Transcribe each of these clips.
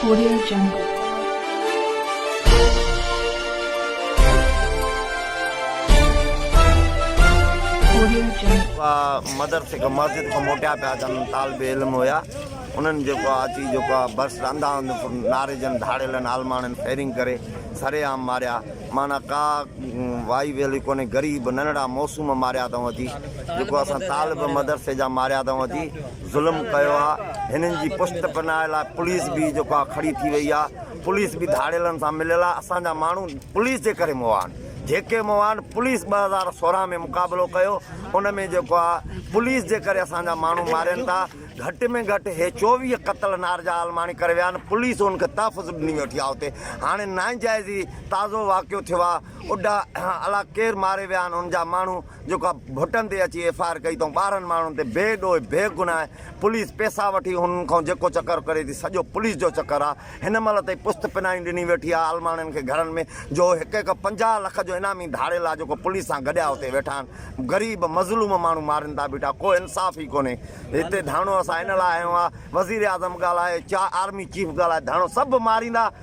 audio جنگل مدرسي کان مسجد کان موٽيا پيا اچن طالب علم هيا انهن جيڪو آ اچي جيڪو آ بس رندا هند ناريجن ڌاڙيلن عالماڻن فيرنگ ڪري سري عام ماريا معنی ڪا وائي ويلي ڪونهي غريب ننڙا موسوم ماريا اٿئون اچي جيڪو اسان طالب مدرسي جا ماريا اٿئون اچي ظلم ڪيو آ هنن جي پشت پناهه لاء پوليس به جيڪو آ کڙي ٿي وئي آ پوليس به ڌاڙيلن سان مليل آ اسان جا ماڻهو پوليس جي ڪري موئا آهن جيڪي موئا آهن پوليس ٻه هزار سورهن ۾ مقابلو ڪيو ان ۾ جيڪو آ پوليس جي ڪري اسان جا ماڻهو مارين ٿا گهٽ ۾ گهٽ هي چوويهه قتل نارجا عالماڻي ڪري ويا آهن پوليس هن کي تحفظ ڏني ويٺي آ اتي هاڻي ناانجائزي تازو واقعو ٿيو آ اڊا الاء ڪير ماري ويا آهن ان جا ماڻهو جيڪا ڀٽن تي اچي ايف آء آر ڪئي تئون ٻارهن ماڻهن تي بي ڏوهه بي گناهه پوليس پيسا وٺي هنن کان جيڪو چڪر ڪري ٿي سڄو پوليس جو چڪر آ هن مهل تائين پست پنائي ڏني ويٺي آ عالماڻين کي گهرن ۾ جو هڪ هڪ پنجاهه لک جو انعامي ڌاڙيل آ جيڪو پوليس سان گڏيا اتي ويٺا آهن غريب مظلوم ماڻهو مارين ٿا بيٺا ڪو انصاف ئي ڪونهي هتي ڌرڻو اسان ان لاء هنيو آ وزير اعظم ڳالهائي چا آرمي چيف ڳالهائي ڌرڻو سڀ ماريندا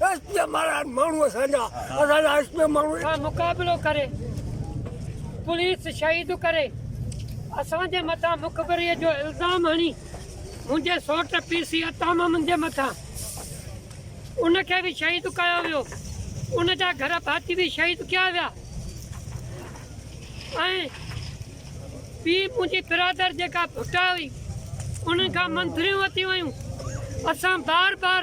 ايس پي ماران ماڻهو اسان جا اسان جا ايس پي ماڻهو سان مقابلو ڪري پوليس شهيد ڪري اسان جي مٿان مخبري جو الزام هڻي منهنجي سوٽ پي سي عطا محمد جي مٿان ان کي به شهيد ڪيو ويو ان جا گهر ڀاتي به شهيد ڪيا ويا ۽ پي منهنجي برادر جيڪا ڀٽا هئي انهن کان منظريون وتيون ويون اسان بار بار